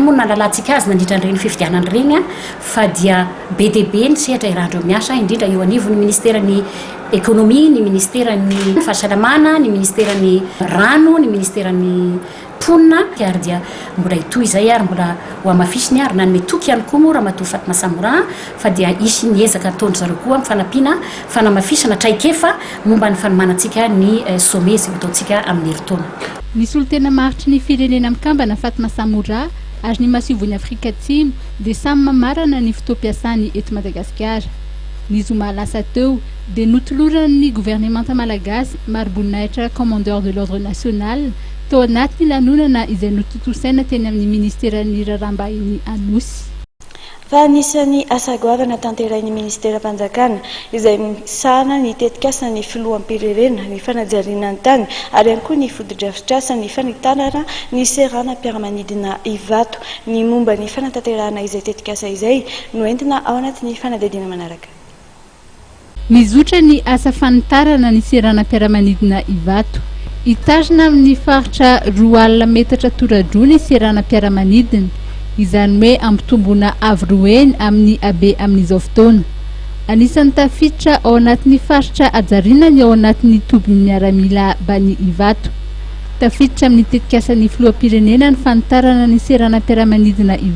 moa no nahalalantsika azy nandritra an'ireny fifidianana ireny fa dia be dia be ny sehatra iarahan'ireo miasa, indrindra eo anivon'ny Ministeran'ny Ekonomia, ny Ministeran'ny Fahasalamana, ny Ministeran'ny Rano, ny Ministeran'ny Mponina, ary dia mbola hitohy izay ary mbola hohamafisiny ary nanome toky ihany koa moa Ramatoa Fatma Samora, fa dia hisy ny ezaka ataon-dry zareo koa amin'ny fanampiana fanamafisana traikefa momba ny fanomanantsika ny Sommet izay hotaontsika amin'ny herintaona. Ny solontena maharitry ny Firenena Mikambana Fatma Samoura ary ny Masoivohon'i Afrika Atsimo dia samy mamarana ny fotoam-piasany eto Madagasikara. Ny zoma lasa teo dia notoloran'ny governemanta malagasy mariboninahitra Commandeur de l'Ordre National tao anatin'ny lanonana izay notontosaina teny amin'ny Ministeran'ny Raharaham-bahiny Anosy. fa anisan'ny asa goavana tanterahin'ny Ministeram-panjakana izay misahana ny tetikasan'ny Filoham-pirenena ny fanajariana ny tany ary ihany koa ny fotodrafitrasan'ny fanitarana ny seranam-piaramanidina Ivato. Ny momba ny fanatanterahana izay tetikasa izay no entina ao anatin'ny fanadihadiana manaraka. Mizotra ny asa fanitarana ny seranam-piaramanidina Ivato. Hitarina amin'ny faritra roa alina metatra tora-droa ny seranam-piaramanidina, izany hoe ampitomboina avo roa heny amin'ny habe amin'izao fotoana. Anisan'ny tafiditra ao anatin'ny faritra hajariana ny ao anatin'ny tobin'ny miaramila Bani Ivato. Tafiditra amin'ny tetikasan'ny filoham-pirenena ny fanitarana ny seranam-piaramanidina Ivato.